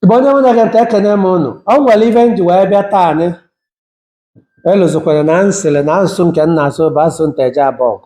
Igbo onye mụ na-ege ntị ekene m unu o nwere ife m ji wee bịa taa anyị elozọkwala na m sịrị na asụsụ nke m na-asụ bụ asụsụ Nteje Abọgụ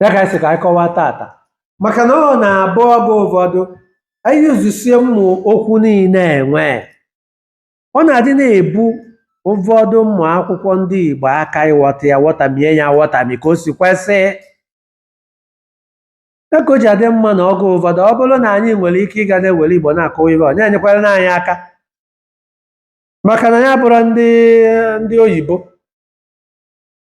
ya ka anyị sị ka anyị kọwaa tata maka na ọ na-abụ oge ụfọdụ anyị yuzusie ụmụ okwu niile e nwe ọ na-adị na-ebu ụfọdụ ụmụ akwụkwọ ndị Igbo aka ịghọta ya ghọtamie ya ghọtami ka o si kwesị ya ka o ji adị mma na oge ụfọdụ ọ bụrụ na anyị nwere ike ịga na-ewere Igbo na-akọwa ife ọ na-enyekwara na anyị aka maka na anyị abụrọ ndị oyibo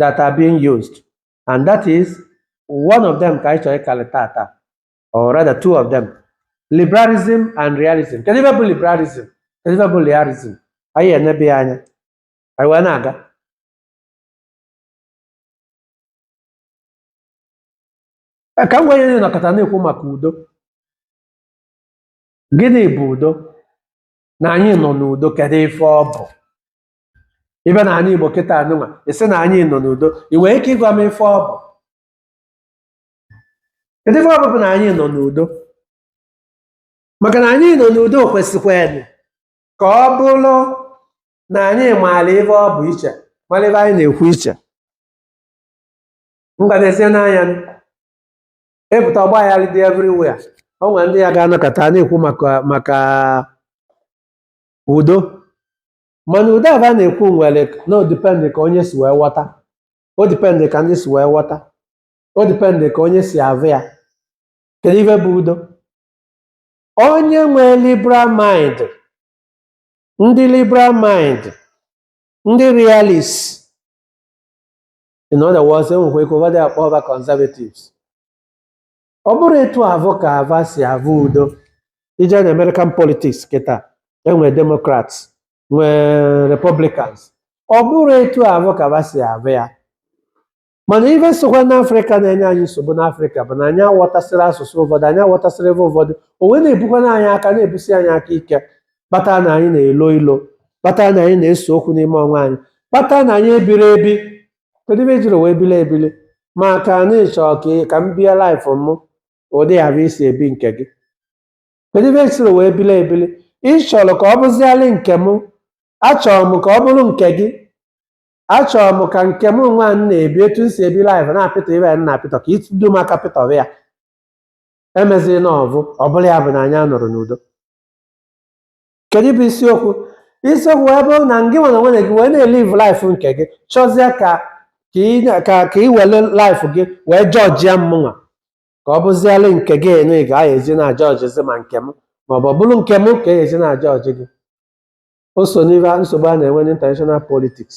that are being used and that is one of them ka anyị chọrọ ịkalị tata or rather two of them liberalism and realism kedu ife bụ liberalism kedu ife bụ realism anyị enebe ya anya anyị wee na-aga Eh, ka m gwa anyị nọkata na-ekwu maka udo gịnị bụ udo na anyị nọ n'udo kedu ife ọ bụ ị bịa n'anị Igbo kịta nụnwa ị sị na anyị nọ n'udo ị nwere ike ịgwa m ife ọ bụ kedu ife ọ bụ bụ na anyị nọ n'udo maka na anyị nọ n'udo kwesịkwanụ ka ọ bụrụ na anyị maara ife ọ bụ iche mara ife anyị na-ekwu iche mgbanezie n'anya m, ị pụta ọgba aghara dị everywhere o nwere ndị ya ga-anọkata na-ekwu maka udo mana udo avụ a na-ekwu nwere na o dipendị ka onye si wee ghọta o dipendị ka ndị si wee ghọta o dipendị ka onye si avụ ya kedu ife bụ udo onye nwee liberal mind ndị liberal mind ndị realist in other words e nwekwa ike ụfọdụ akpọọ va conservatives ọ bụrụ etu avụ ka va si avụ udo ị jee na American politics kịta e nwee Democrats nwee Republicans ọ bụrụ etu avụ ka va si avụ ya mana ife sokwa n'afrịka na-enye anyị nsogbu n'afrịka bụ na anyị aghọtasịrọ asụsụ ụfọdụ anyị aghọtasịrọ ife ụfọdụ o wee na-ebukwana anyị aka na-ebusi anyị aka ike kpata na anyị na-elo ilo kpata na anyị na-ese okwu n'ime onwe anyị kpata na anyị ebirọ ebi kedu ife ejiri wee bili ebili maka na ị chọọ ka ị- ka m bie laịfụ m ụdị ya bụ i si ebi nke gị kedu ife ejiri wee bili ebili ị chọrọ ka ọ bụzialị nke m achọrọ m ka ọ bụrụ nke gị achọrọ m ka nke mụnwa m na-ebi etu m si ebi laịfụ na-apịtọ ibe ya m na-apịtọ ka ịtụdo m aka pịtọrọ ya emeziri na ọvụ ọ bụrụ ya bụ na anyị anọrọ n'udo kedu bụ isiokwu isiokwu wee bụrụ na ngịnwa na onwe gị wee na-eliv laif nke gị chọzie ka ka ị na- ka ka ị were laif gị wee jọjia mmụnwa ka ọ bụzialị nke gịnwa ka e eji na-ajọjizi ma nke m maọbụ ọ bụrụ nke m ka e eji na-ajọji gị o so n'ife nsogbu a na-enwe n'international politics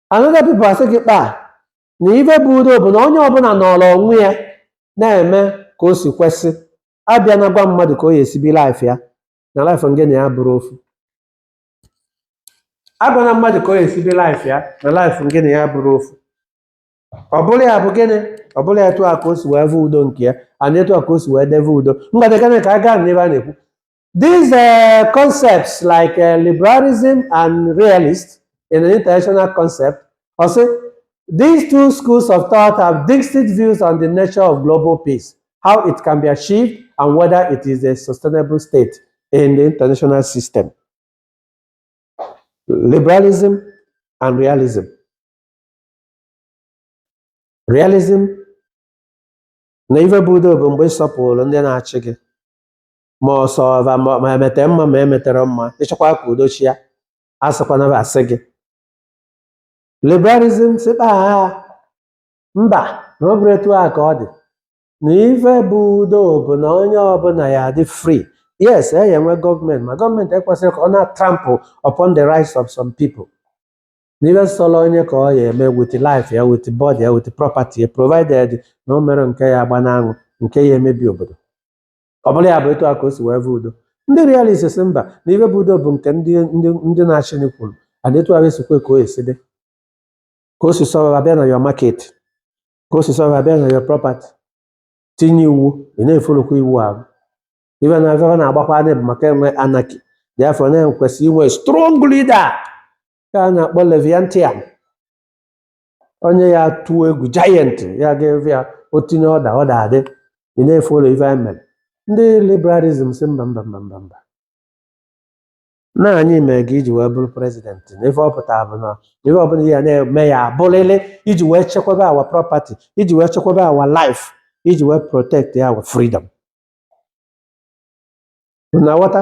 another people asị gị kpa na ife bụ udo bụ na onye ọbụla nọrọ onwe ya na-eme ka o si kwesị abịana gwa mmadụ ka ọ ya-esi bi laif ya na laif ngị na ya abụrọ ofu agwana mmadụ ka ọ ya-esi bi laif ya na laif ngị na ya abụrọ ofu ọ bụrụ ya bụ gịnị ọ bụrụ ya etu a ka o si wee vụ udo nke ya ana etu a ka o si wee deve udo mgbada gịnị ka aba a na-ekwu These uh, concepts like uh, liberalism and realist in an international concept, also these two schools of thought have distinct views on the nature of global peace, how it can be achieved, and whether it is a sustainable state in the international system. Liberalism and realism. Realism na ife bụ udo bụ mgbe ị sọpụrụ ndị na-achị gị ma ọ sọva ma ma emete mma ma emeterọ mma ịchọkwa ka udo chịa asịkwana bụ asị gị liberalism sịkpa ha mba na ọ bụrụ etu a ka ọ dị na ife bụ udo bụ na onye ọbụla ya-adị free yes a ya-enwe gọọmenti ma gọọmenti ekwesirọ ka ọ na-trample upon the rights of some people na ife sọrọ onye ka ọ ya-eme with life ya with body ya with property ya provided na o merọ nke ya agba n'anwụ nke ya-emebi obodo ọ bụrụ ya bụ etu a ka o si wee vụ udo ndị realist sị mba na ife bụ udo bụ nke ndị ndị ndị na-achị ni kwuru ana etu ahụ esikwe ka o esi dị ka o si sọrọ abịa na your market ka o si sọrọ abịa na your property tinye iwu ị na-efolokwa iwu ahụ ife na ife na-agbakwa anya bụ maka enwe anarchy therefore na e kwesị inwe strong leader ka a na-akpọ leviathan onye a ya-atụ egwu giant a ya-efe ya o tinye ọda ọda adị ị na-efolo ife e mere ndị liberalism sị mba mba mba mba mba na anyị mere gị i ji wee bụrụ president na ife ọ pụtara bụ na ife ọbụla ị ya na-eme ya-abụrịrị iji wee chekwaba our property iji wee chekwaba our life iji wee protect our freedom na-aghọta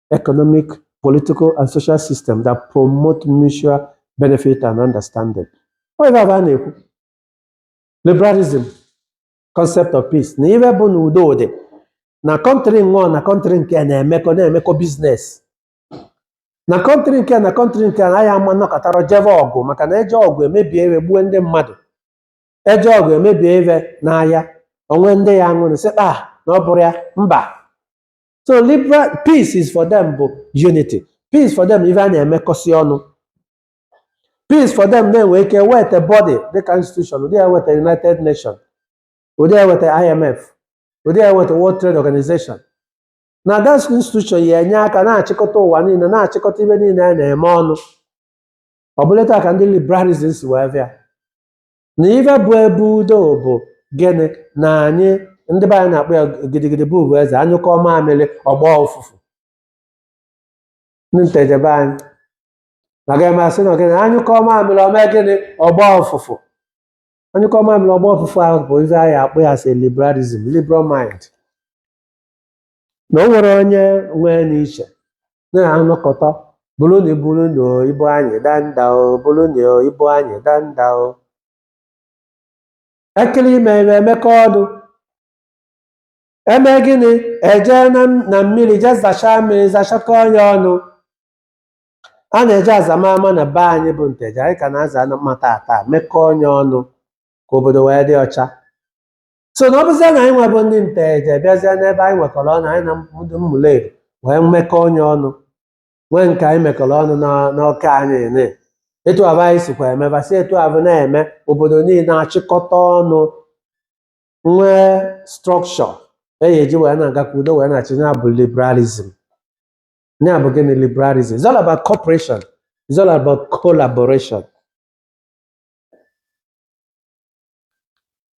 economic, political, and social system that promote mutual benefit and understanding. Ọ ife aba a na-ekwu liberalism concept of peace na ife bụ na udo dị na kọntrị nwa na kọntrị nke a na-emekọ na-emekọ biznes na kọntrị nke a na kọntrị nke a na ha ama nọkata jebe ọgụ maka na eje ọgụ emebie ife egbuo ndị mmadụ eje ọgụ emebie ebe n'ahịa o nwe ndị ya-anwụrị sị kpa na ọ bụrụ ya mba so liberal peace is for them bụ unity peace for them ife a na-emekọsị ọnụ peace for them na-enwe ike weta body dịka institution ụdị ya weta united nations ụdị ya weta imf ụdị ya weta world trade organization na that institution ya enye aka na-achịkọta ụwa niile na-achịkọta ife niile a na-eme ọnụ ọ bụlụ etu a ka ndị liberalism si wee bịa na ife bụ ebe udo bụ gịnị na anyị ndị be anyị na-akpọ ya gidigidi bụ ugwu eze anyụkọọ mamịrị ọ gbaa ụfụfụ ndị nteje be anyị na ga masị na gịnị anyụkọọ mamịrị o mee gịnị ọ gbaa ụfụfụ anyụkọọ mamịrị ọ gbaa ụfụfụ ahụ bụ ife anyị akpọ ya sị liberalism liberal mind na o nwerọ onye nwe n'iche na a nọkọta burunu burunu ibu anyị danda o burunu ibu anyị danda o ekulie ime ife emekọọ ọnụ eme gịnị eje na m- na mmiri je zachaa mmiri zachakọnye ọnụ a na-eje aza ama ma na be anyị bụ nteje anyị ka na-aza n'ama tata mekọnye ọnụ ka obodo wee dị ọcha so na ọ bụzie na anyị nwa bụ ndị nteje bịazie n'ebe anyị nwekọrọ ọnụ anyị na ndị ụmụleri wee mekọnye ọnụ nwee nke anyị mekọrọ ọnụ na- n'ọka anyị nine etu avụ anyị sikwa eme va si etu avụ na-eme obodo niile achịkọta ọnụ nwee structure a ya-eji wee na-aga ka udo wee na-achị ya bụ liberalism ya bụ gịnị liberalism it's all about cooperation it's all about collaboration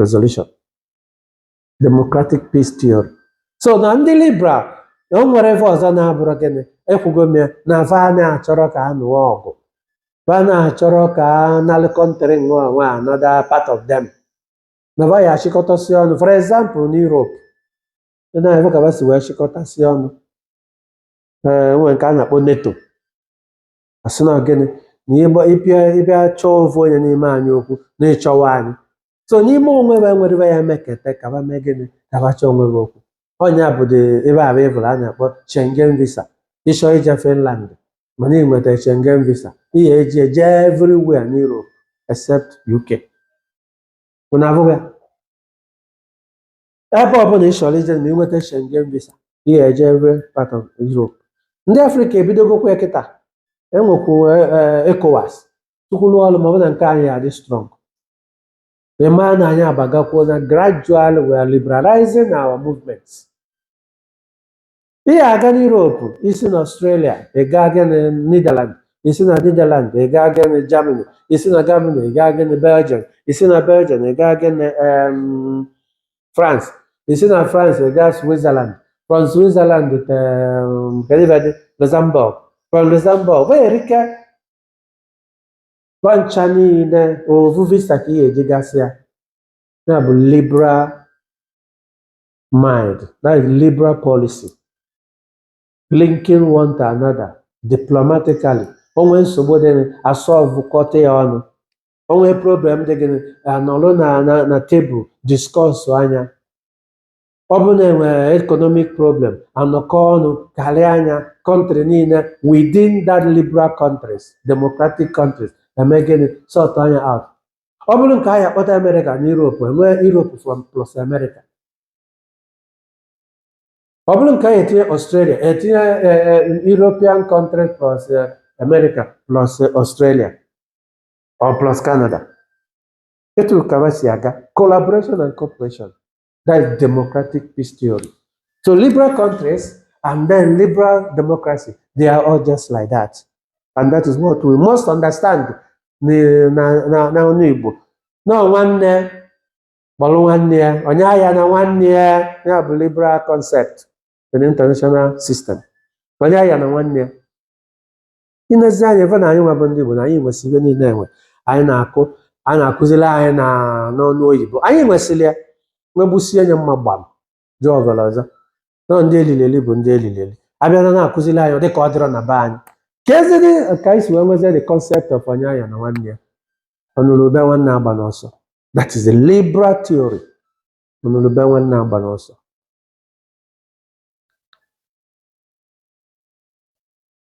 resolution democratic peace theory so na ndị liberal na o nwerọ ife ọzọ na-abụrọ gịnị ekwugo m ya na va na-achọrọ ka a nụọ ọgụ va na-achọrọ ka a nalụ country nwa nwa another part of them na va ya achịkọtasị ọnụ for example na Europe ị na-avụ ka va si wee chịkọtasị ọnụ ee nwere nke a na-akpọ NATO asị na gịnị na ịgba ịbịa ịbịa chọọ ofu onye n'ime anyị okwu na ịchọwa anyị so n'ime onwe va nwerọ ive ya-emekete ka va mee gịnị ka va chọọ onwe va okwu ọnya bụ dị ebe a bụ ịbụrụ a na-akpọ Schengen visa ị chọọ ije Finland mana ị nweta Schengen visa ị ya-eji eje everywhere n'Europe except UK unu avụgo ya? ebe ọbụla ị chọrọ ije ma i nweta Schengen visa ị ya-eje every part of Europe ndị Afrịka ebidogokwa ya kịta enwekwu ECOWAS tukwuru ọrụ ma ọ bụ na nke anyị adị strong ee mana anyị abagakwuo na gradual we are liberalizing our movements ị ga-aga n'Europe i si na Australia ị gaa gịnị Netherland i si na Netherland ị gaa gịnị Germany i si na Germany ị gaa gịnị Belgium i si na Belgium ị gaa gịnị em, France i si na France ị gaa Switzerland from Switzerland to kedu ebe dị Luxembourg from Luxembourg wee erike va ncha niile ovu visa ka ị ga-eji gasị ya ya bụ liberal mind, that is liberal policy, linking one to another diplomatically. O nwee nsogbu dị gịnị, asolvụkọta ya ọnụ. O nwee problem dị gịnị, anọrọ na na na tebụl discussụa nya. Ọ bụrụ na enwere economic problem, anọkọ ọnụ karịa nya country niile within that liberal countries, democratic countries, eme gịnị, sortụa nya out. ọ bụrụ nke anyị akpọta amerịka na europe enwee europe from plus amerịka ọ bụrụ nke anyị etinye australia etinye eh, eh, european country plus eh, america plus eh, australia or plus canada etu a ka ha si aga collaboration and cooperation That is democratic peace theory. So liberal countries and then liberal democracy, they are all just like that. And that is what we must understand na- na- na- n'ana Igbo. Na nwanne kpọrọ nwanne ya, onye aghana nwanne ya, ya bụ liberal concept in the international system. Onye aghana nwanne ya. i lezie anya ị fụ na anyị nwa bụ ndị Igbo na anyị nwesị ihe niile enwe anyị na-akụ a na-akụziri anyị na n'ọnụ oyibo anyị nwesịrị ya nwegbusie anya mma gbam jụọ ọbara ọzọ nọ ndị elili eli bụ ndị elili eli abịara na-akụziri anyị ọ dị ka ọ dịrọ na be anyị kezinụ ka anyị si wee nwezie the concept of onye aghana nwanne ya ọnụrụ ube nwanne agbana ọsọ that is a liberal theory ọnụrụ ube nwanne agbana ọsọ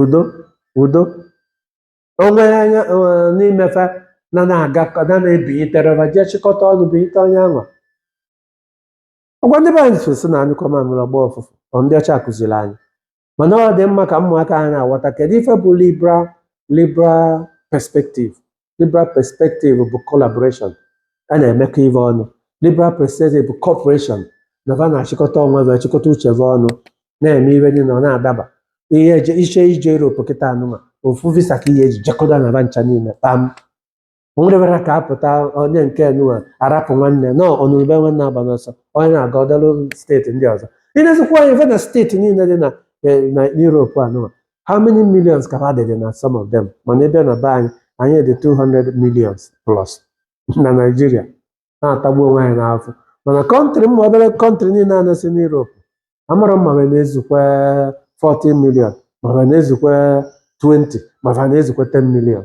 udo udo o nwere anya eh, n'imefe na na-agakọ na na-ebinyetere va jee chịkọta ọnụ binyete onye ahụ ọ kwa ndị be anyị so si na anyụkọọ mamịrị ọ gbọọ ụfụfụ ọ ndị ọcha kụziri anyị mana ọ dị mma ka ụmụaka anyị na-aghọta kedu ife bụ liberal liberal perspective liberal perspective bụ collaboration a na-emekọ ife ọnụ liberal perspective bụ cooperation na va na-achịkọta onwe va achịkọta uche va ọnụ na-eme ife niile ọ na-adaba ihe eje iche ije Europe kịta anụma ofu visa ka ị ya-eji jekọta na va ncha niile kpam o nwere ka apụta onye nke nụwa arapụ nwanne na ọnụrụ ube nwanne agbana ọsọ onye na-aga ọdalụ steeti ndị ọzọ i nezikwa anya ị fụ na steeti niile dị na eh, na Europe anụma how many millions ka ha dịdị na some of them mana ị bịa na be anyị anyị dị 200 millions plus na Naịjirịa na-atagbu onwe anyị n'afụfụ mana kọntrị ụmụ obere kọntrị niile a nọsị n'Europe amara m ma ha na-ezukwa 40 million ma ha na-ezukwa 20 ma ha na-ezukwa 10 million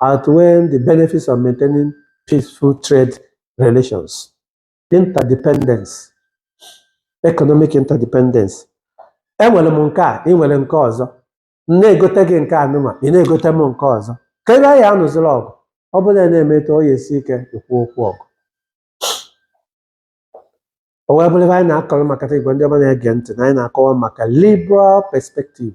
outweigh the benefits of maintaining peaceful trade relations. Interdependence, economic interdependence. Enwere m nke a, ị nwere nke ọzọ. M na-egote gị nke anwa, ị na-egote m nke ọzọ. Ka ebe anyị anụziri ọgụ, ọ bụrụ na e mee etu a ọ ya-esi ike ikwu okwu ọgụ. O wee bụrụ ebe anyị na-akọrọ maka Igbo ndị ọma na-ege ntị na anyị na-akọwa maka liberal perspective.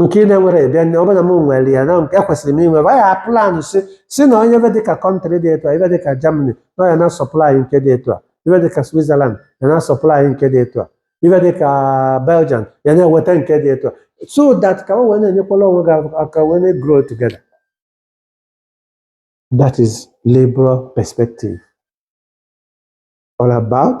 nke ị na-enwere ịbịa nye ọ bụrụ na m nwere ya na nke ekwesịrị m inwe ya plan sị sị na onye ebe dịka kọntrị dị etu a ebe dịka Germany na ya na-asupply nke dị etu a ebe dịka Switzerland ya na-asupply nke dị etu a ebe dịka Belgium ya na-eweta nke dị etu a so that ka o wee na-enyekwala onwe gị aka wee na-grow together that is liberal perspective all about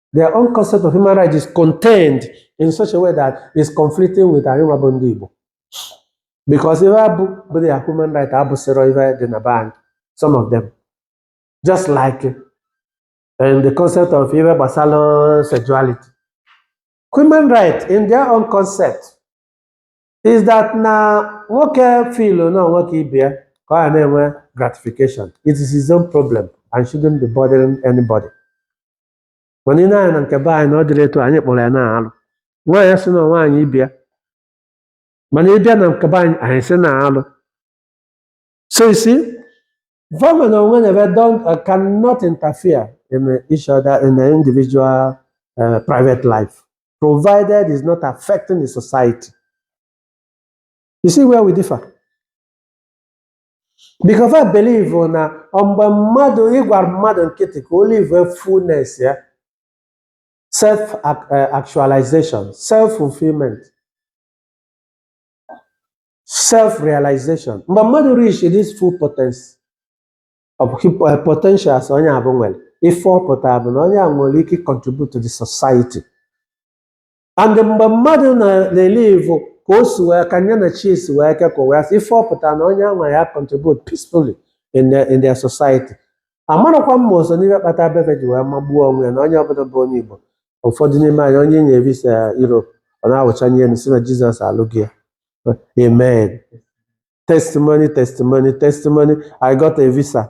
their own concept of human rights is contained in such a way that it's conflicting with anyị nwa bụ ndị Igbo because ife afụ bụ their human right abụsịrọ ife dị na be anyị some of them just like and the concept of ife gbasara sexuality human right in their own concept is that na nwoke feelụ na nwoke ibe ya ka ọ na-enwe gratification it is his own problem and shouldn't be bothering anybody mana ị nee anya na nke be anyị na ọ dịrọ etu a anyị kpọrọ ya na alụ nwaanyị sị na nwaanyị ibe ya mana ị bịa na nke be anyị anyị sị na alụ so you see government and whatever uh, cannot interfere in uh, each other in the individual uh, private life provided it's not affecting the society you see where we differ because I believe na ọ mgbe mmadụ ị gbara mmadụ nkịtị ka o live fullness ya self ac- eh, actualization self fulfillment self realization mgbe mmadụ reach this full potency of hip- eh, potentials onye afụ nwere ife ọ pụtara bụ na onye a nwere ike contribute to the society and mgbe mmadụ na- na-elive ka o si wee kwenye na chi ya si wee kekọ wee sị ife ọ pụta na onye anwa ya contribute peacefully in their, in their society amarọkwa m ma o so n'ihe kpata be fa ji wee magbuo onwe ya na onye ọbụla bụ onye igbo ụfọdụ n'ime anyị onye e nye visa europe ọ na-awụchanye enu sị na jizọs alụgo ya amen testimony testimony testimony i got a visa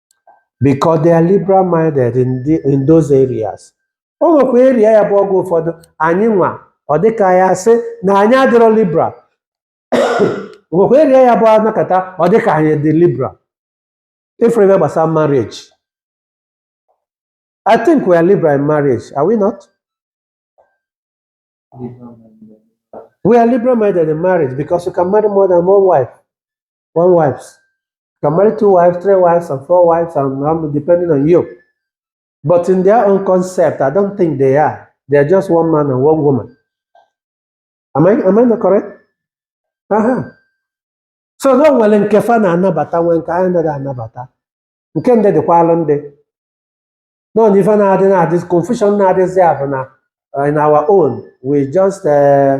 because they are liberal minded in, the, in those areas o nwekwa area ya bụ oge ụfọdụ anyị nwa ọ dịka ya sị na anyị adịrọ liberal o nwekwa area ya bụ a nọkata ọ dịka anyị dị liberal ife gbasara marriage i think we are liberal in marriage are we not we are liberal minded in marriage because you can marry more than one wife one wives. You can marry two wives, three wives, and four wives, and um, depending on you. But in their own concept, I don't think they are. They are just one man and one woman. Am I, am I not correct? Uh-huh. So na o nwere nke fa na-anabata nwee nke anyị anaghị anabata nke ndị dịkwalụ ndị nọ na ife na-adị na-adị confusion na-adịzi ya bụ na uh, in our own we just uh,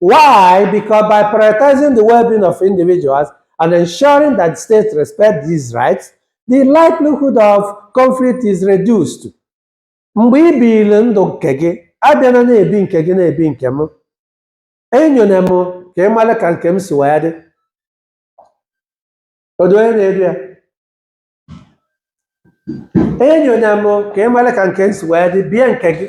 Why? Because by prioritizing the well being of individuals and ensuring that states respect these rights, the likelihood of conflict is reduced. Mgbe ị biri ndụ nke gị, abịana na-ebi nke gị na-ebi nke m, enyona m ka ị mara ka nke m si wee dị. Odu onye na-edu ya? Enyona m ka ị mara ka nke m si wee dị, bie nke gị.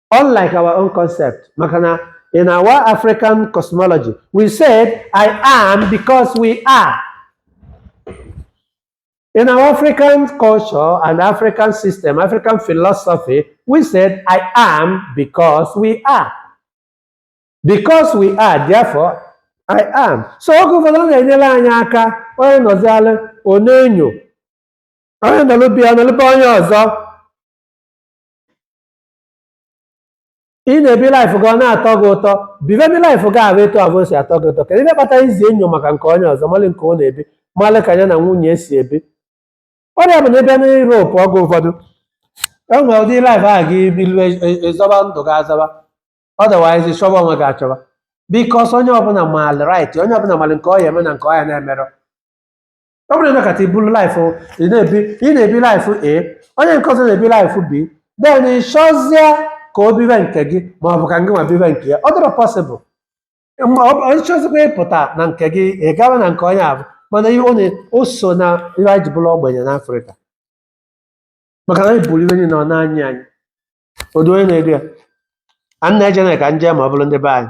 unlike our own concept maka na in our african cosmology we said i am because we are in our african culture and african system african philosophy we said i am because we are because we are therefore i am so oge ụfọdụ ọ na-enyere anyị aka onye nọzialụ ọ na-enyo onye nọlụ be ya nọlụ be onye ọzọ ị na-ebi life gị ọ na-atọ gị ụtọ biveni life gị ahụ etu ọ bụ o si atọ gị ụtọ kedu ihe kpatara i ji enyo maka nke onye ọzọ malị nke ọ na-ebi malị ka ya na nwunye si ebi ọ rị ya bụ na ị bịa na Europe oge ụfọdụ e nwee ụdị life ahụ gị bilu ị zọba ndụ gị azọba otherwise ị chọba onwe gị achọba because onye ọbụla maali right onye ọbụla maali nke ọ ya-eme na nke ọ ya na-emerọ ọ bụrụ na ị nọkata i bulu life ị na-ebi ị na-ebi life a onye nke ọzọ na-ebi life b then ị chọzie ka o biwe nke gị ma ọ bụ ka ngị nwa biwe nke ya ọ dịrọ possible ma ọ bụ onye chọzikwa ịpụta na nke gị ị gawa na nke onye ahụ mana ihe ọ na- o so na ihe anyị ji bụrụ ogbenye n'afrịka maka na anyị buru ibu niile ọ na-anyị anyị odu onye na-edu ya a na-eje na ka nje ma ọ bụrụ ndị be anyị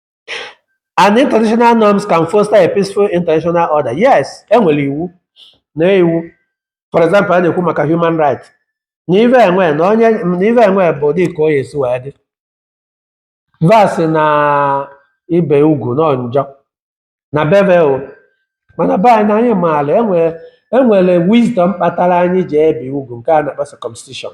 and international norms can foster a peaceful international order yes enwere iwu na iwu for example a na-ekwu maka human rights na ive enwe na onye na ive enwe bụ dị ka onye esi wee dị va sị na ibe ugwu nọ njọ na be ve mana be anyị na anyị maala enwere enwere wisdom kpatara anyị ji ebi ugwu nke a na-akpọ circumcision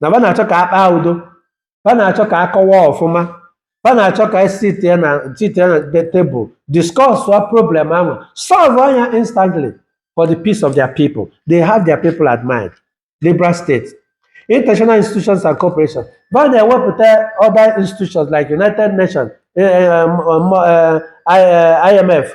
na ba na-achọ ka a kpaa udo ba na-achọ ka a kọwa ọfụma ba na-achọ ka e sit at the table discuss wa problem ahụ solve ya instantly for the peace of their people they have their people at mind liberal states international institutions and cooperation ba na-ewepụta other institutions like united nations eh, eh, um, um, eh, I- eh, imf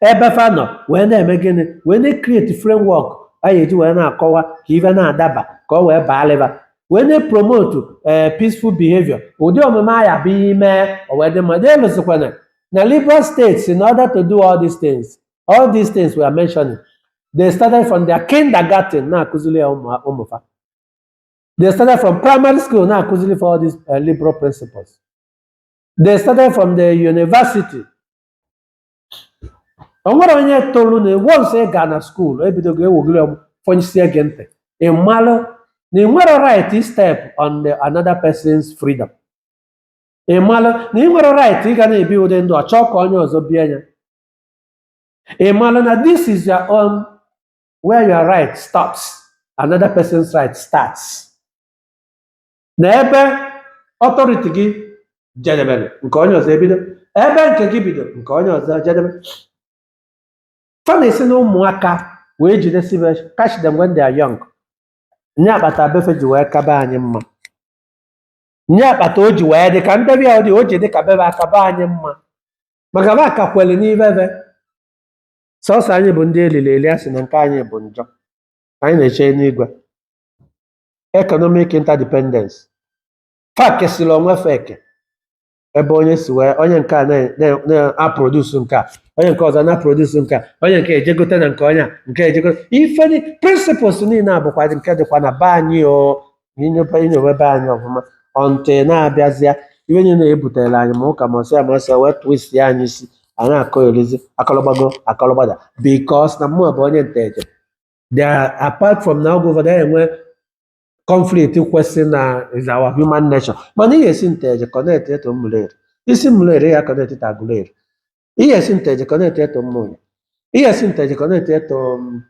ebe fa nọ wee na-eme gịnị wee na-ecreate framework a ga-eji wee na-akọwa ka ife na-adaba ka ọ wee baa lịba wee na-epromotu ee peaceful behavior ụdị omume a ya bụ ihe mee o wee dị mma na-elụsịkwana na liberal states in order to do all these things all these things we are mentioning they started from their kindergarten na-akụziri ya ụmụ- ụmụ fa they started from primary school na-akụziri fa all these uh, liberal principles they started from the university o nwere onye tolu na once ị gaa na school e bidogo ewogiri ọm fọnyisie gị ntị ị malụ na ị nwerọ right istep on another person's freedom ị malụ na ị nwerọ right ịga na-ebi ụdị ndụ ọ chọọ ka onye ọzọ bie ya ị malụ na this is your own where your right stops another person's right starts na ebe authority gị jedebere nke onye ọzọ ebido ebe nke gị bido nke onye ọzọ jedebe fa na-esi na ụmụaka wee jidesibe catch them when they are young nya kpata be fe ji wee ka be anyị mma nya kpata o ji wee dị ka mbebi ya ọ dị o ji dị ka be be aka be anyị mma maka ba aka kwere n'ibe be sọsọ anyị bụ ndị eliri eli a sị na nke anyị bụ njọ anyị na-eche n'igwe economic interdependence fa kesịrị onwe fa eke ebe onye si wee onye nke a na- na- na-aprodusu nke a onye nke ọzọ na-aprodusu nke a onye nke eje gote na nke onye a nke eje gote ife ni principles niile a bụkwa nke dịkwa na be anyị o i nyoba i nyowe be anyị ọfụma ọntị na-abịazịa ife niile na-ebutere anyị ma ụka ma ọsịa ma ọsịa wee twist ya anyị isi a na-akọ erizi a kọlọ gbago a kọlọ gbada because na mmụọ bụ onye nteje they are apart from na oge ụfọdụ anyị enwe conflict kwesị na is our human nature mana ị ya esi Nteje connect to Ụmụleri isi Ụmụleri ya connect to Aguleri ị ya esi Nteje connect to Ụmụnya ị ya esi Nteje connect to mm,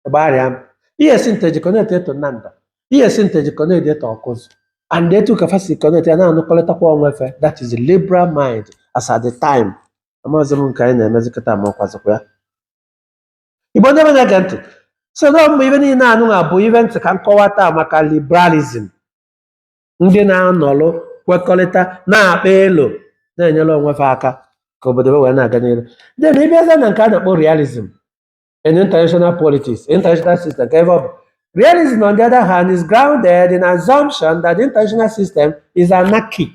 Igbariam ị ya esi Nteje connect to Nando ị ya esi Nteje connect to Ọkụzụ and etu a ka fa si connect ya na-anụkọrịtakwa onwe fa that is the liberal mind as at the time amaghịzi m nke anyị na-emezikọta ma ọkwazikwa ya Igbo ndị be na-ege ntị so na ọ bụ ibe niile anụnwa bụ ibe m sị ka m kọwata maka liberalism ndị na-anọlụ kwekọrịta na-akpa elo na-enyere onwe fa aka ka obodo be wee na-aga n'ihu then ịbịaza na nke a na-akpọ realism in international politics international system kee ibe ọ bụ realism on the other hand is grounded in assumption that the international system is anarchic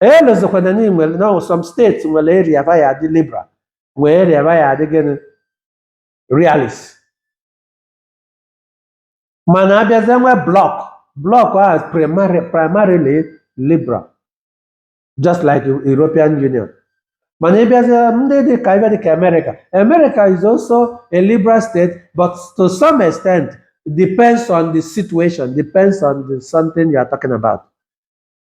elozokwana na nwere na ọ wụ some states nwere area ba ya adị liberal nwee area ba ya adị gịnị realist mana abịazie nwe bloc bloc as primarily liberal just like European Union mana ịbịazie ndị dị ka ebe dị ka America America is also a liberal state but to some extent depends on the situation depends on the something you are talking about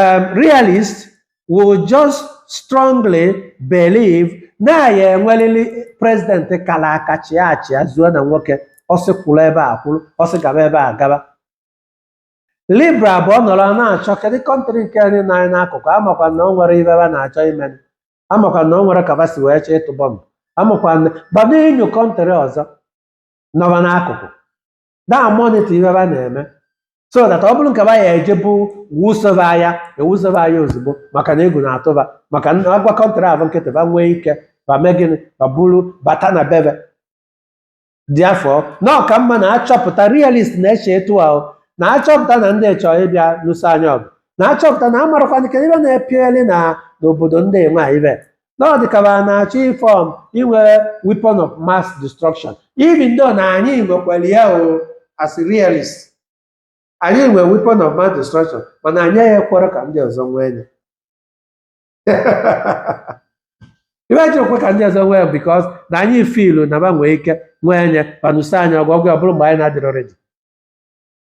um, realist will just strongly believe na ya enwerịrị president kara aka chịa achịa zuo na nwoke ọ sị kwụrụ ebe a akwụrụ ọ sị gaba ebe a agaba liberal bụ ọ nọrọ na-achọ kedu country nke nọ anyị n'akụkụ amakwa na ọ nwere ibe ba na-achọ ime amakwa na ọ nwere ka ba si wee chọọ ịtụ bọmbụ amakwa na gbado enyo country ọzọ nọ ba n'akụkụ daa monitor ibe ba na-eme so that ọ bụrụ nke ba ya eje buso va aya ebuso va aya ozugbo maka na egwu na-atụ ba maka na agba country ahụ nkịtị ba nwee ike ba mee gịnị ba buru bata na be ba therefore na ọ ka mma na achọpụta realist na-eche etu ahụ na achọpụta na ndị chọọ ịbịa lụso anyị ọgụ na achọpụta na amarakwana ka ibe na-epieli na n'obodo ndị nwe ibe na ọ dị ka ba na-achọ iform inwe weapon of mass destruction even though na anyị nwekwara ya o as realist anyị nwe weapon of mass destruction mana anyị ya ekwerọ ka ndị ọzọ nwee ya ibe anyị ji ekwerọ ka ndị ọzọ nwee ya because na anyị feelụ na ba nwee ike nwee ya ba anụsa anyị ọgụ ọgụ ọ bụrụ mgbe anyị na-adịrọ ready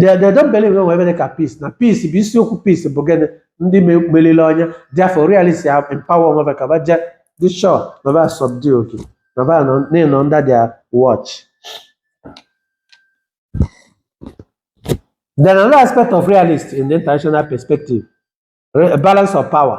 they, they don't believe na nwere ibe dị ka peace na peace bụ isiokwu peace bụ gịnị ndị me- meriri onye therefore realist ya empower onwe ba ka ba je dị sure na ba subdue oke na ba nọ na-enọ under their watch then another aspect of realist in the international perspective a balance of power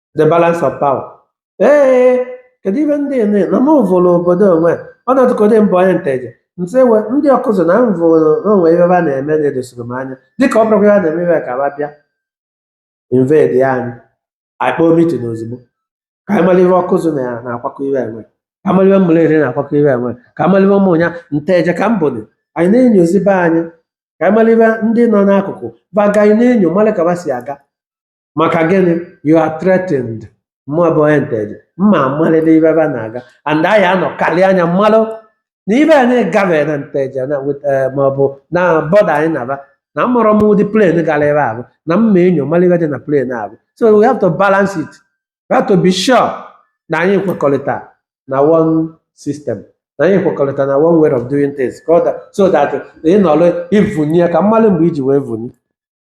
the balance of power ee kedu ive ndị ene na m vụrụ obodo onwe ọ na-atụkọdị mụ bụ onye nteje nse we ndị ọkụzụ na m vụrụ o nwe ive a na-eme na-edosiri m anya dịka ọ bụrụkwa ya na-eme ive ka ba bịa invade ya anyị anyị kpọọ meeting ozugbo ka anyị mara ive ọkụzụ na ya na-akwakọ iwe enwe ka mara ive ụmụleri na-akwakọ iwe enwe ka mara ive ụmụnya nteje ka m bụdị anyị na-enyozi be anyị ka anyị mara ive ndị nọ n'akụkụ ba agaghị na-enyo mara ka ba si aga maka gịnị you are threatened mụ bụ onye nteje mma amalite ive ebe a na-aga and anyị anọ karịa anya m malụ na ive a na-agafe na nteje na wit- eh, ma ọ bụ na border anyị na ba na amarọ m ụdị plane gara ebe ahụ na mma enyo mara ive dị na plane ahụ so we have to balance it we have to be sure na anyị kwekọrịta na one system na anyị kwekọrịta na one way of doing things ka ọ da- so that ị nọrọ ivunye ka m malụ mgbe i ji wee vunye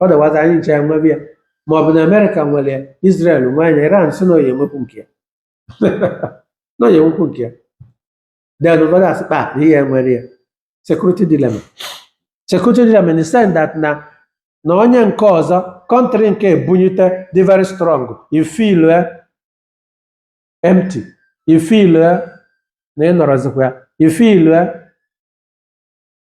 otherwise anyị nchaa nwebe ya ma ọ bụ na america nwere ya israel nwee ya iran sị na ọ ya-enwekwu nke ya na ọ ya-enwekwu nke ya then ụfọdụ asị kpa na ihe nwere ya security dilemma security dilemma in the sense that na na onye nke ọzọ country nke ebunyite dị very strong ị feel empty ị feel na ị nọrọzikwa ya ị feel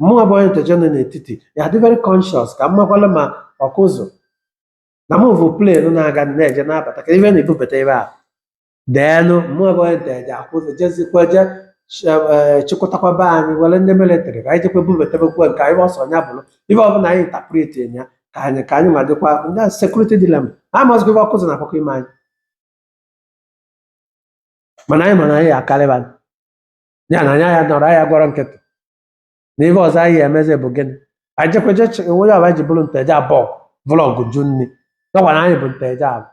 mụnwa bụ onye nteje nọ n'etiti ya dị very conscious ka m makwala ma ọkụzụ na m bụ plane na-aga na-eje na-abata ka ive na-ebubata ebe a then mụnwa bụ onye nteje akwụzụ jezikwa je chịkọtakwa be anyị were ndị military ka anyị jekwa bubatabekwa nke anyị ọsọ nya bụrụ ive ọbụla anyị interpret ya ka anyị ka anyị ma dịkwa ndị security dilemma amazịgo ive ọkụzụ na-akwakọ ime anyị mana anyị mana anyị akarị ba ya na anya ya nọrọ anyị gbarọ nkịtị na ihe ọzọ anyị emezi bụ gịnị anyị jekweje onwe ya ọba ji bụrụ nteje abọgụ vulu ọgụ jụ nni nakwa na anyị bụ nteje abọ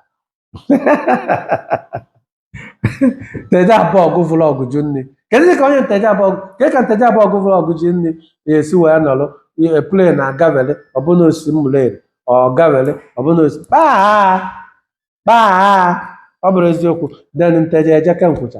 nteje abọgụ vulu ọgụ jụ nni kedu ka onye nteje abọgụ ka nteje abọgụ vulu ọgụ jụ nni na-esi wee nọrọ plane agavele ọ bụ na o si ụmụleri ọ gavele ọ bụ na o si kpaa kpaa ọ bụrụ eziokwu then nteje eje kee nkwụcha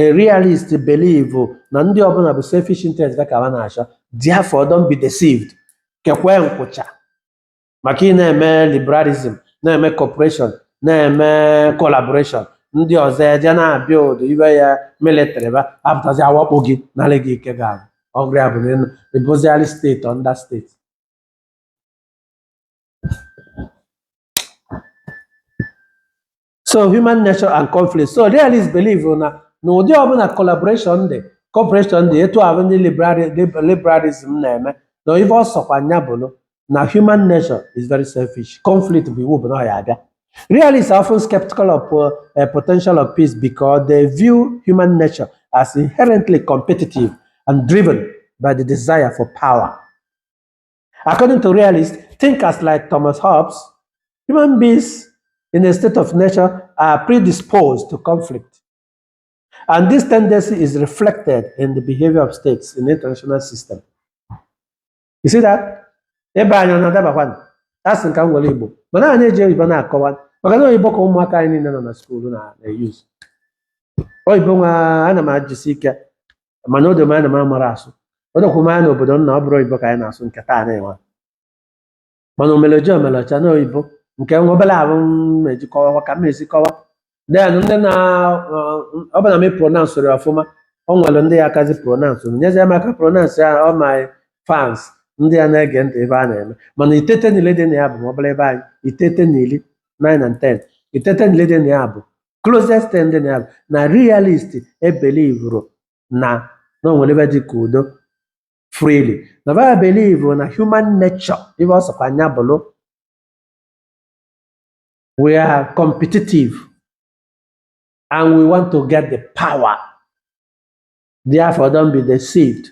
a realist believe na ndị ọbụla bụ selfish interest ka ha na-achọ therefore don't be deceived kekwe nkwụcha maka ị na-eme liberalism na-eme cooperation na-eme collaboration ndị ọzọ eje na-abuild ive ya military ba apụtazi awakpo gị narị gị ike ga abụ ọgụ ya bụ na ịnụ- ị bụziarị state under state so human nature and conflict so realist believe na na ụdị ọbụla collaboration dị cooperation dị etu ahụ ndị liberali- lib- liberalism na-eme na ife ọ sọkwa nya bụrụ na human nature is very selfish conflict bụ iwu bụ na ọ ya abịa Realists are often skeptical of uh, uh, potential of peace because they view human nature as inherently competitive and driven by the desire for power. According to realists, thinkers like Thomas Hobbes, human beings in a state of nature are predisposed to conflict. And this tendency is reflected in the behavior of states in the international system. You see that? Ibe anyị ọ na-adabakwanụ? Asị m ka m were Igbo. Mana anyị eji oyibo na-akọwa. Maka na oyibo ka ụmụaka anyị niile nọ na skuulu na-eyuz. Oyibo nwa ana m ajisi ike mana o do m anya na m amara asụ o dokwa m anya na obodo nna ọ bụrụ oyibo ka anyị na-asụ nke taa na-enwe mana omeleji omelecha na oyibo nke nwa obere ahụ m eji kọwa ka m esi kọwa then ndị na ọ bụrụ na m pronounce ya ọfụma ọ nwere ndị ya akazi pronounce nyezie m aka pronounce ya all my fans ndị a na-ege ntị ebe a na-eme mana itete na iri dị na ya bụ ma ọ bụla ibe anyị itete na iri 9 and 10 itete na iri dị na ya bụ closest thing dị na ya bụ na realist ebelievero na na o nwere ife dị ka udo freely na ba belivuru na human nature ife ọ sọkwa nya bụrụ we are competitive and we want to get the power therefore don't be deceived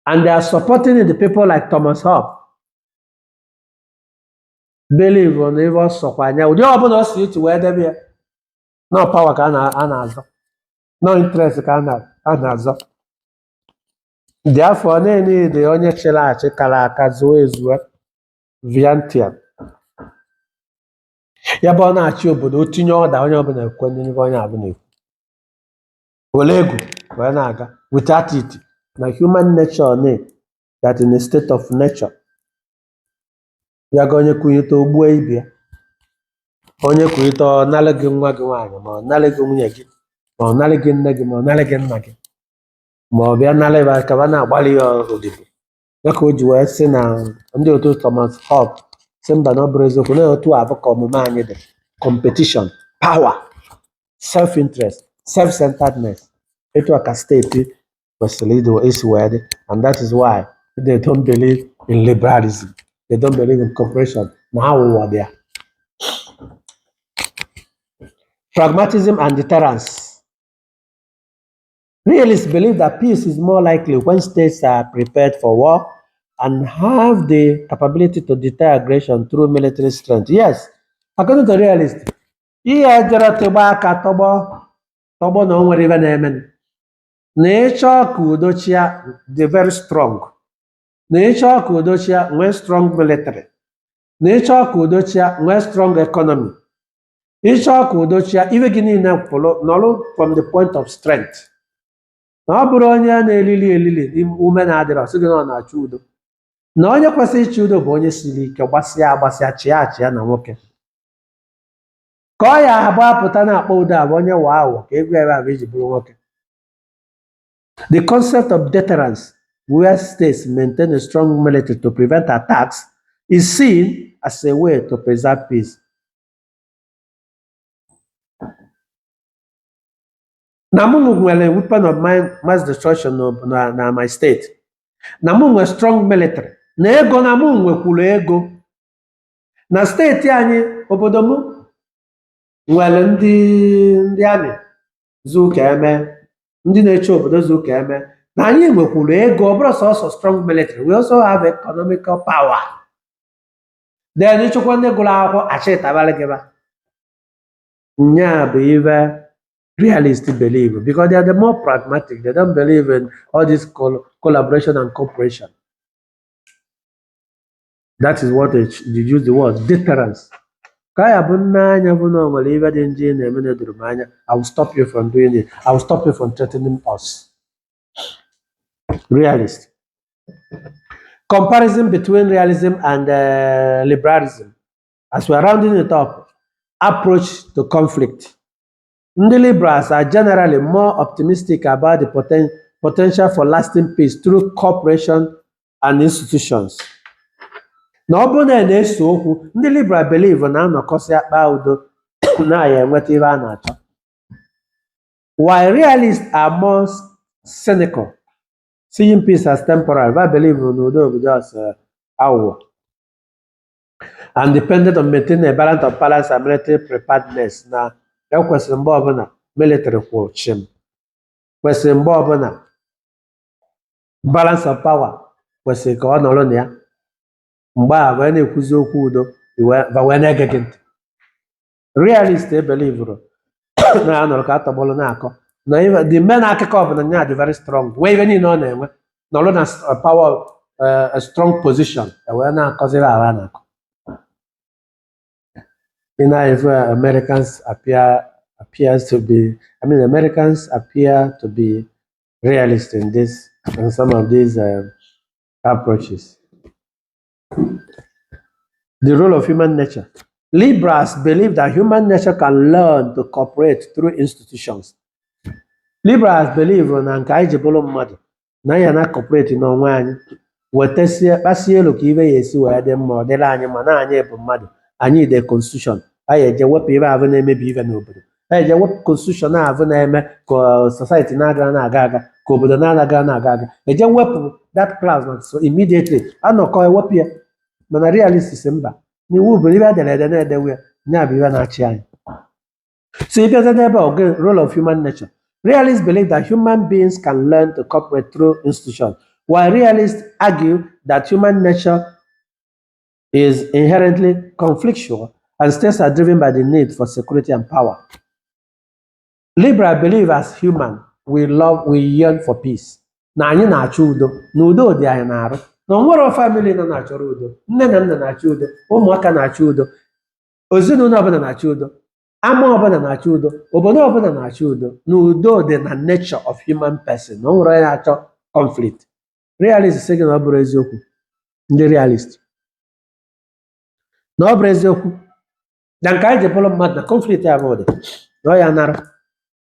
and they are supporting the people like thomas hobbes believe na ife ọ sọkwa nya ụdị ọbụla ọ si iti wee debe ya na ọ power ka a na-azọ na ọ interest ka a na-azọ therefore na a need onye chịrị achị kara aka zuo ezuo Leviathan ya bụ ọ na-achị obodo o tinye order onye ọbụla ekwe n'ihe onye ọbụla ekwe were egwu wee na-aga without it na human nature na that in a state of nature ya ga onye kunite o gbuo ibe ya onye kunite ọ narị gị nwa gị nwaanyị ma ọ narị gị nwunye gị ma ọ narị gị nne gị ma ọ narị gị nna gị ma ọ bịa narị ba ka ba na-agbara ya odibo ya ka o ji wee sị na ndị otu Thomas Hobbes sị mba na ọ bụrụ eziokwu na otu a bụ ka omume anyị dị competition power self interest self centeredness etu a ka state kwesịrị isi wee dị and that is why they don't believe in liberalism they don't believe in cooperation na aghụghọ dị ya pragmatism and deterrence realists believe that peace is more likely when states are prepared for war and have the capability to deter aggression through military strength yes according to realists ihe jọrọ tịgba aka tọgbọ tọgbọ na o nwere ive na-eme na ị chọọ ka udo chịa dị very strong na ị chọọ ka udo chịa nwee strong military na ị chọọ ka udo chịa nwee strong economy ị chọọ ka udo chịa ive gị niile pụrụ nọrụ from the point of strength na ọ bụrọ onye a na-elili elili ume na-adịrọ sị gị na ọ na-achọ udo na onye kwesịrị ịchị udo bụ onye siri ike gbasịa agbasịa chịa achịa na nwoke ka ọ ya-abụ a pụta na-akpa udo abụ onye wa ahụ ka egwu ebe abụ iji bụrụ nwoke the concept of deterrence where states maintain a strong military to prevent attacks is seen as a way to preserve peace na mụ nwere weapon of mi- mass destruction na na na my state na mụ nwere strong military na ego na mụ nwekwuru ego na steeti anyị obodo m nwere ndị ndị army zu ka e mee ndị na-eche obodo zu ka e mee na anyị nwekwuru ego ọ bụrọ sọsọ strong military we also have economical power then ị chọkwa ndị gụrụ akwụkwọ a chịtabalị gị va nya bụ ive realist believe because they are the more pragmatic they don't believe in all this col- collaboration and cooperation that is what they use the word deterrence ka ọ ya-abụ m nee anya vụ na o nwere ive dị njọ ị na-eme na-edorọ m anya i will stop you from doing it i will stop you from threatening us realist comparison between realism and uh, liberalism as we are rounding it up approach to conflict ndị liberals are generally more optimistic about the poten- potential for lasting peace through cooperation and institutions na ọ bụrụ na a na-ese okwu ndị liberal believe na a nọkọsịa kpaa udo na a ya-enweta ihe a na-achọ while realists are more cynical seeing peace as temporary va believe na udo bụ just eh, aghụghọ and dependent on maintaining a balance of balance and military preparedness na e kwesịrị mgbe ọbụla military kwụrụ chịm kwesịrị mgbe ọbụla balance of power kwesịrị ka ọ nọrọ na ya mgbe a wee na-ekwuzi okwu udo i wee- va wee na-ege gị ntị realist ebelivurọ na ya nọrọ ka atọgbọrọ na-akọ na ife- the men akụkọ ọbụla nya dị very strong wee ife niile ọ na-enwe nọrọ na s- uh, power uh, a strong position e wee na-akọziri ala a na-akọ ị na-afụ Americans appear appears to be I mean Americans appear to be realist in this in some of these um, approaches. The role of human nature. Liberals believe that human nature can learn to cooperate through institutions. Liberals believuru na nke anyị ji bụrụ mmadụ na anyị na cooperate n'onwe anyị wetesie kpasie etu ka ife ya-esi wee dị mma ọ dịrị anyị mma na anyị bụ mmadụ anyị dee konstitushọn anyị eje wepụ ife ahụ na-emebi ife n'obodo anyị eje wepụ konstitushọn ahụ na-eme ka society na-aghara na-aga aga ka obodo na-aghara na-aga aga eje wepụ that clause na so immediately anọkọ ewepụ ya mana realists sị mba na iwu bụ ife e dere ede na e dewe ya nya bụ ife na-achị anyị so ị bịazie n'ebe a the role of human nature realists believe that human beings can learn to cooperate through institution while realists argue that human nature is inherently conflictual and states are driven by the need for security and power liberal believe as human we love we yearn for peace na anyị na-achọ udo na udo dị anyị n'arụ na o nwerọ famili nọ na-achọrọ udo nne na nna na-achọ udo ụmụaka na-achọ udo ezinụlọ ọbụla na-achọ udo ama ọbụla na-achọ udo obodo ọbụla na-achọ udo na udo dị na nature of human person na o nwerọ onye na-achọ conflict realist sị gị na ọ bụrọ eziokwu ndị realist na ọ bụrọ eziokwu na nke anyị ji bụrụ mmadụ na conflict ya bụ dị na ọ ya nara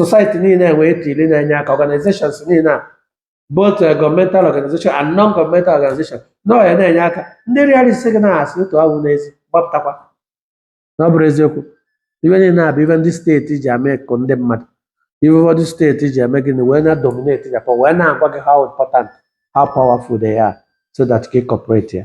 society niile wee tiri na-enye aka organizations niile a both eh, governmental organization and non-governmental organization na ọ ya na-enye aka ndị realist sị gị na asị otu awụ n'ezi gbapụtakwa na ọ bụrọ eziokwu ife niile a bụ ife ndị steeti ji eme ka ndị mmadụ ife ụfọdụ steeti ji eme gịnị wee na dominate Japan wee na-agwa gị how important how powerful they are so that gị cooperate ya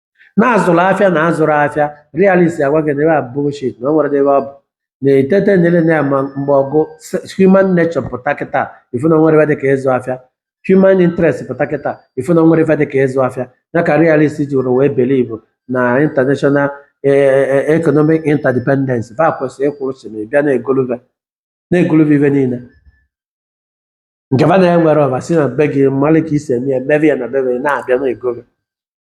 na-azụrụ afịa na-azụrụ afịa realist agwa gị na ife a bullshit na o nwerọ ife ọ bụ na-etete nyere na ya ma mgbe ọgụ se- human nature pụta kịta ị fụ na o nwerọ ife dị ka ịzụ afịa human interest pụta kịta ị fụ na o nwerọ ife dị ka ịzụ afịa ya ka realist ji were wee believe na international eh, eh, economic interdependence va kwesịrị ịkwụrụ sị na ị bịa na-egoluve na-egoluve ife niile nke va na-enwerọ va si na be gị malụ ka e si eme ya mebe ya na be va na-abịa na-egoluve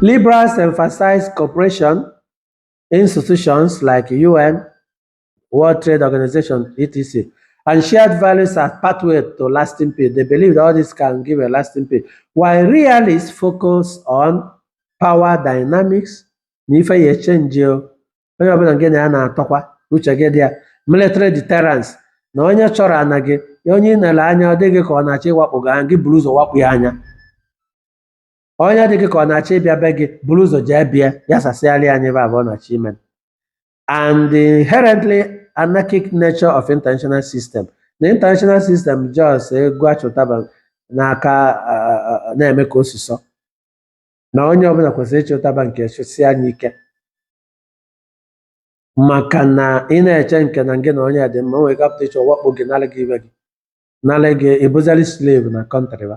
Liberals emphasize cooperation institutions like UN, World Trade Organization, etc., and shared values as pathway to lasting peace. They believe that all this can give a lasting peace. While realists focus on power dynamics, na ife ya echenji o. onye ọbụla nke na ya na-atọkwa uche gị dị ya military deterrence na onye chọrọ ana gị ya onye ị nere anya ọ dị gị ka ọ na-achọ ịwakpo gị aya gị buru ụzọ wakpo ya aya onye dị gị ka ọ na-achọ ịbịa be gị buru ụzọ jee be ya sasịarị ya ife ahụ ọ na-achọ ime and the inherently anarchic nature of international system na international system just ego a chị ụtaba n'aka ah, ah, na-eme ka osisọ na onye ọbụla kwesịrị ịchị ụtaba nke chịsie ya ike maka na ị na-eche nke na gị na onye dị mma o nwere ike pụta echi wakpo gị nara gị ife gị nara gị ị bụzarị slave na kọntrị ba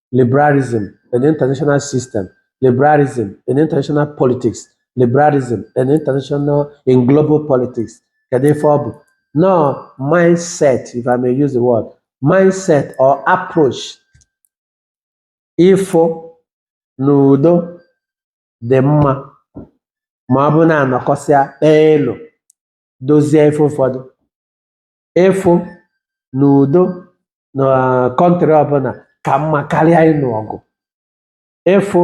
liberalism in international system liberalism in international politics liberalism in international in global politics kedu ife ọ bụ na ọ mindset if i may use the word mindset or approach ịfụ na udo dị mma ma ọ bụ na a nọkọsịa kpee elu dozie ife ụfọdụ ịfụ na udo na kọntrị ọbụla ka mma karịa ịnụ ọgụ ịfụ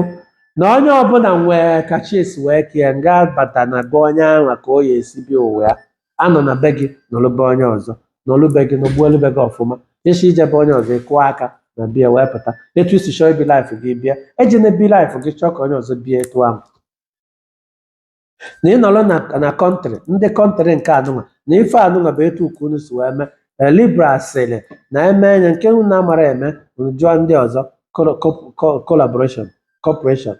na onye ọbụla nwee ka chi ya si wee kee nabata na be onye ahụ ka ọ ya esi bie ụwa ya anọna be gị nọrọ be onye ọzọ nọrọ be gị nọgbuo elu be gị ọfụma ị chọọ ije be onye ọzọ ị kụọ aka na bịa wee pụta etu i si chọọ ibi laịfụ gị bie ejina ebi laịfụ gị chọọ ka onye ọzọ bie etu ahụ na ị nọrọ na na kọntrị ndị kọntrị nke anụnwa na ife anụnwa bụ etu ka unu si wee mee Eh, liberal sịrị na eme anya nke unu na-amarọ eme unu jụọ ndị ọzọ koro- ko- ko- collaboration cooperation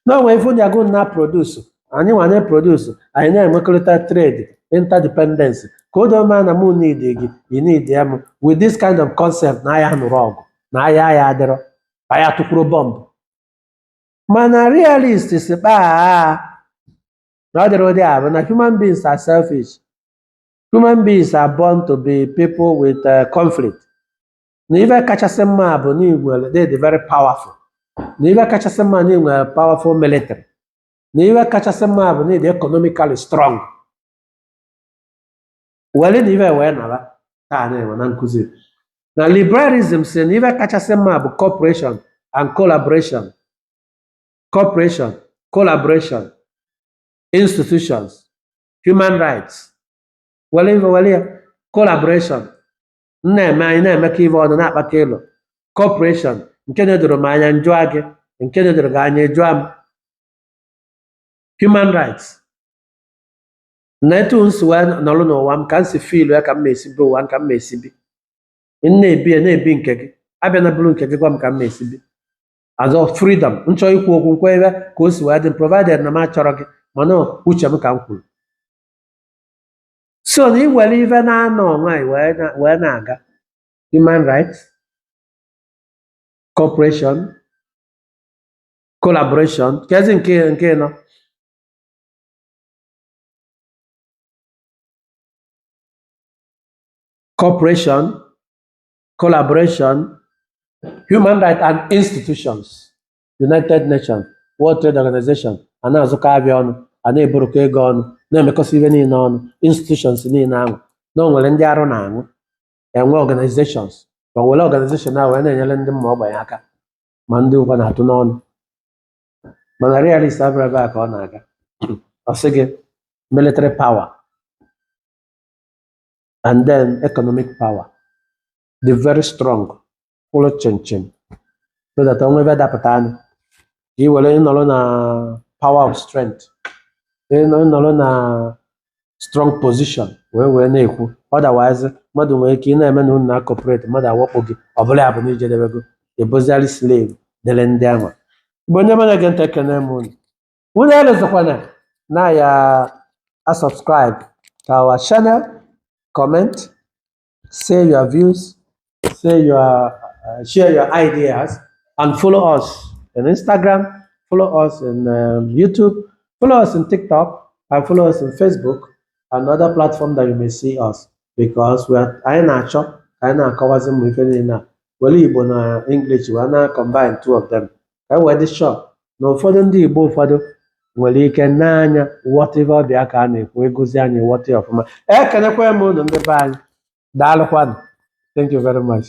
na o nwee ife ndị ahụ na-aprodusu anyị nwa na-aprodusu anyị na-enwekọrịta trade interdependence ka o doo maa na mụ need gị you need ya m with this kind of concept na a ya anụrọ ọgụ na aya ya adịrọ a ya atụkwurọ bọmbụ mana realist sị kpaa na ọ dịrọ ụdị ahụ na human beings are selfish human beings are born to be people with uh, conflict na ife kachasị mma bụ na i nwere ị dị very powerful na ife kachasị mma na i nwere powerful military na ife kachasị mma bụ na ị dị economically strong were na ife wee nara ka a na-enwe na nkụzi na liberalism si na ife kachasị mma bụ cooperation and collaboration cooperation collaboration institutions human rights were ife were ya collaboration m na-eme anyị na-emekọ ife ọnụ na-akpakọ elo cooperation nke na-edoro m anya m jụa gị nke na-edoro gị anya ị jụa m human rights na etu m si wee nọrọ n'ụwa m ka m si fiilu ya ka m ma esi bi ụwa m ka m ma esi bi m na-ebi ya na-ebi nke gị abịana buru nke gị gwa m ka m ma esi bi azọ freedom m chọọ ikwu okwu m kwue ka o si wee dị m provided na m achọrọ gị mana uche m ka m kwuru so na e were ife na-anọ nwa anyị wee na- wee na-aga human rights cooperation collaboration kezi nke nke anọ cooperation, collaboration, human rights and institutions, United Nations, World Trade Organization, a na-azụkọ afịa ọnụ, a na-eburukọ ego ọnụ, na-emekọsị ife niine ọnụ, institutions niine ahụ, na o nwere ndị arụ na-anwụ, e nwee organizations, ma were organization ahụ wee na-enyere ndị ụmụ ogbenye aka, ma ndị ụkọ na-atụ n'ọnụ. mana realist abụrọ ebe a ka ọ na-aga ọ sị gị military power and then economic power dị very strong kwụrụ chịm chịm so that o nwee ife dapụtanụ ka ị were nọrọ na power of strength ị nọ- ị nọrọ na strong position wee wee na-ekwu otherwise mmadụ nwere ike ị na-eme na unu na-acooperate mmadụ awakpo gị ọ bụla ya bụ na i jedebego ebozigharị slave dere ndị ahụ ị bụ onye ma na-ege ntị ekene m unu unu elozokwana na ị ya-asubscribe to our channel comment say your views, say your uh, share your ideas, and follow us on Instagram, follow us in um, YouTube, follow us in TikTok, and follow us in Facebook and other platform that you may see us because we are anyị na-achọ ka anyị na-akọwazi ụmụ ife niile a were Igbo na English wee na combine two of them ka e wee dị sure na ụfọdụ ndị Igbo ụfọdụ nwere ike n'anya ghọta ife ọbịa ka a na-ekwu ịgụzi anyị ghọta ya ọfụma ekenekwa m unu ndị be anyị daalụkwanụ thank you very much